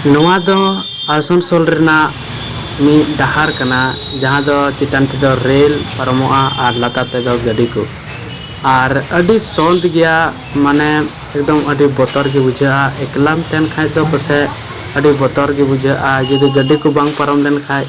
ᱱᱚᱣᱟ ᱫᱚ ᱟᱥᱚᱱᱥᱚᱞ ᱨᱮᱱᱟᱜ ᱢᱤᱫ ᱰᱟᱦᱟᱨ ᱠᱟᱱᱟ ᱡᱟᱦᱟᱸ ᱫᱚ ᱪᱮᱛᱟᱱ ᱛᱮᱫᱚ ᱨᱮᱞ ᱯᱟᱨᱚᱢᱚᱜᱼᱟ ᱟᱨ ᱞᱟᱛᱟᱨ ᱛᱮᱫᱚ ᱜᱟᱹᱰᱤ ᱠᱚ ᱟᱨ ᱟᱹᱰᱤ ᱥᱚᱸᱛ ᱜᱮᱭᱟ ᱢᱟᱱᱮ ᱮᱠᱫᱚᱢ ᱟᱹᱰᱤ ᱵᱚᱛᱚᱨ ᱜᱮ ᱵᱩᱡᱷᱟᱹᱜᱼᱟ ᱮᱠᱞᱟᱢ ᱛᱟᱦᱮᱱ ᱠᱷᱟᱱ ᱫᱚ ᱯᱟᱥᱮᱡ ᱟᱹᱰᱤ ᱵᱚᱛᱚᱨ ᱜᱮ ᱵᱩᱡᱷᱟᱹᱜᱼᱟ ᱡᱩᱫᱤ ᱜᱟᱹᱰᱤ ᱠᱚ ᱵᱟᱝ ᱯᱟᱨᱚᱢ ᱞᱮᱱᱠᱷᱟᱱ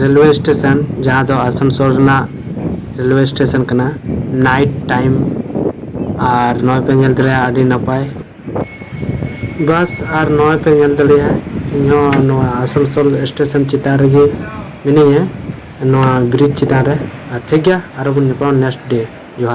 ᱨᱮᱞᱣᱮ ᱥᱴᱮᱥᱚᱱ ᱡᱟᱦᱟᱸ ᱫᱚ ᱟᱥᱟᱱᱥᱳᱞ ᱨᱮᱱᱟᱜ ᱨᱮᱞᱣᱮ ᱥᱴᱮᱥᱚᱱ ᱠᱟᱱᱟ ᱱᱟᱭᱤᱴ ᱴᱟᱭᱤᱢ ᱟᱨ ᱱᱚᱜᱼᱚᱭ ᱯᱮ ᱧᱮᱞ ᱫᱟᱲᱮᱭᱟᱜᱼᱟ ᱟᱹᱰᱤ ᱱᱟᱯᱟᱭ ᱵᱟᱥ ᱟᱨ ᱱᱚᱜᱼᱚᱭ ᱯᱮ ᱧᱮᱞ ᱫᱟᱲᱮᱭᱟᱜᱼᱟ ᱤᱧ ᱦᱚᱸ ᱱᱚᱣᱟ ᱟᱥᱟᱱᱥᱳᱞ ᱥᱴᱮᱥᱚᱱ ᱪᱮᱛᱟᱱ ᱨᱮᱜᱮ ᱢᱤᱱᱟᱹᱧᱟ ᱱᱚᱣᱟ ᱵᱨᱤᱡᱽ ᱪᱮᱛᱟᱱ ᱨᱮ ᱟᱨ ᱴᱷᱤᱠ ᱜᱮᱭᱟ ᱟᱨᱚ ᱵᱚᱱ ᱧᱟᱯᱟᱢᱟ ᱱᱮᱠᱥᱴ ᱰᱮ ᱡᱚᱦᱟᱨ